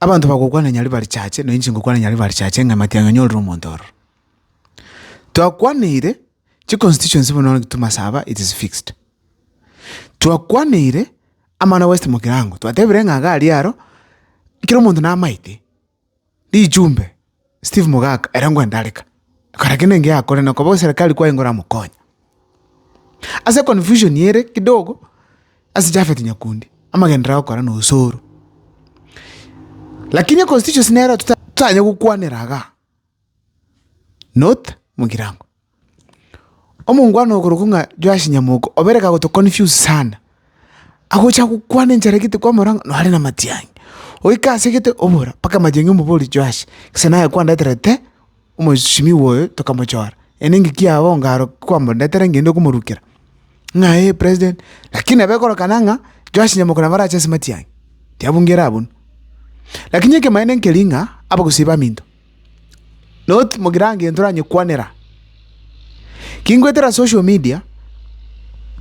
Abanto bagokwana nyari barichache, na inche ngokwana nyari barichache ng'a matiang'a nyorire omonto ororo. Twakwaneire, chiconstituency buna bono gitumo ase aba it is fixed. Twakwaneire, amana west mokirango, twatebire ng'a iga aria aro, kera omonto namaete, rijumbe. Steve mogaka, ere ngwende are ka, akora kende engiya akore, na koba oserekari kwaye nigo oramokonye. Ase confusion ere kidogo, ase Japhet Nyakundi, amagenderero agokora na Osoro. Lakini econstituency nero totanyare gokwanera igaa, not Mugirango. Omongwana okorokwa ng'a Joash Nyamoko, obere kagotoconfuse sana, agocha gokwana enchara egete kwamora ng'a nore na matiang'i, oika ase egete obora mpaka matiang'i omobori Joash, gose naye kwandeterete omosimiwa oyo tokamochora, ere engaki yao onga aro kwamondetera ngende komorukera, ng'a eh president, lakini nabo ekorokana ng'a Joash Nyamoko nabo arache ase matiang'i, tiabungera abwo. Lakini ekemanene nkeri ng'a abagusii baminto. Not mogirango egento oranyekwanera. Ki ngoetera social media,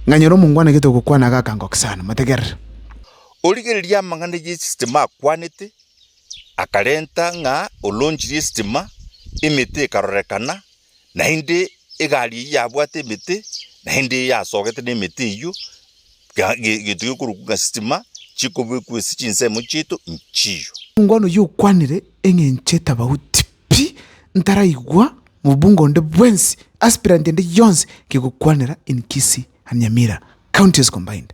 nkanyora omongwana egento ogokwana iga akangokia sana. Motegerere. Origereria amang'ana y'esistima akwanete, akarenta ng'a olonchirie esistima, emete ekarorekana, Naende egari eyio yabwate emete, naende eyio yasogete nemete eyio, ga- ge- gento gekorokwa ng'a sitima, chikobekwa ase chinsemo chiaito nchiyo. Omobungo oyio okwanire eng'encho etabauti pi, ntaraigwa mobungo onde bwensi, aspirant ende yonsi, kegokwanera in Kisii and Nyamira counties combined.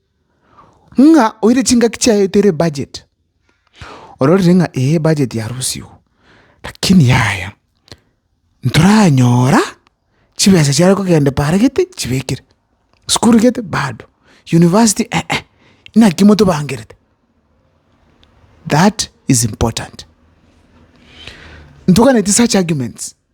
ng'a oire chingaki chiaye tere ebudget, ororire ng'a ee ebudget yarusiwu, lakini yaya ntoranyora chibesa chiare kogenda paara gete chibekire, sukuru gete bado, university eeh, naki motobangerete? That is important. Ntoganeti such arguments.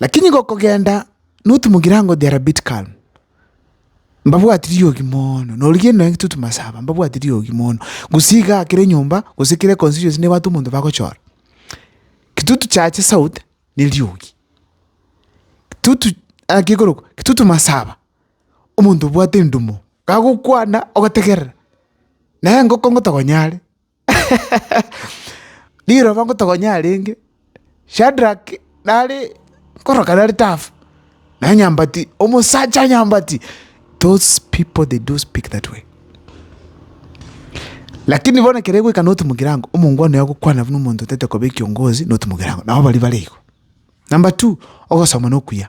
Lakini gokogenda notumogira ango they are a bit calm. Mbabwati riogi mono, norigie nonya intwe tomasaba mbabwati riogi mono. Gose iga kera enyomba gose kera econstituency nebwate omonto bagochora. Intwe tochache south ne riogi. Intwe to naki ekorokwa? Intwe tomasaba omonto obwate endumo kagokwana ogotegerera. Naye engo kongo tokonyare. Riroba ngotogonyia arenge, Shadrak nare nkoroka nare tafa, naye nyambati, omosacha o nyambati, those people they do speak that way. Lakini bono ekero egoika noti mogirango, omongwana oye agokwana buna omonto otaete koba ekiongozi noti mogirango, nabo baria bare igo. Number two, ogosoma na okuya.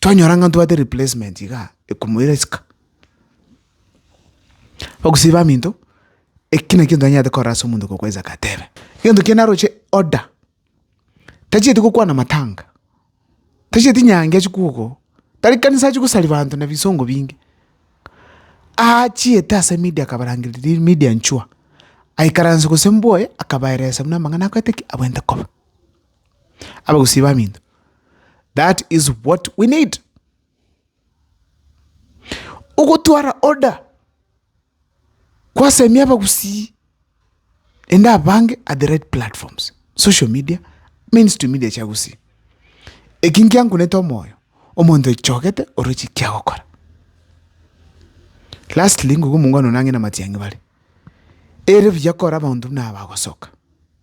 twanyora ng'a ntobwate replacement igaa ekomoira isiko. Abagusii baminto eki nakio ntanyarete korora ase omonto okokwaa isiko atebe, egento ekiagera naroche order, tachieti gokwana matanga, tachieti nyangi achia kogokoa oo, tari kanisa achia kosari banto na bisongo binge, aachiete ase media akabarangeria riri media nchwa, aikaransa gose mboe akabaeresa buna amang'ana akoete ki? Abwenerete koba. Abagusii baminto, that is what we need. Ogotwara order kwasemia abagusii naende abange at the right platforms, social media, mainstream media chia gusii. Eki nkiankunete omoyo, omonto oichogete ore chiki agokora. Lastly, ngokwa omongwana one ang'e namatiang'i bare, ere buya kore abanto buna aba bagosoka.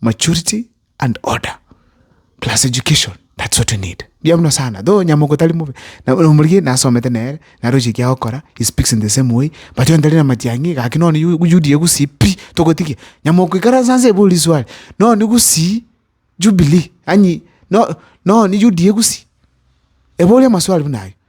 maturity and order plus education that's what we need mbuya muno sana though nyamogo tari mobe na omorigia nasomete nere naroche eki agokora he speaks in the same way but onye tari na matiang'i gaki nonye yu- UDA gusii pi togotigia nyamoko ikaransa nse ebori riswali nonye gusii Jubilee yaani no- nonye UDA gusii ebori amaswali buna ayio.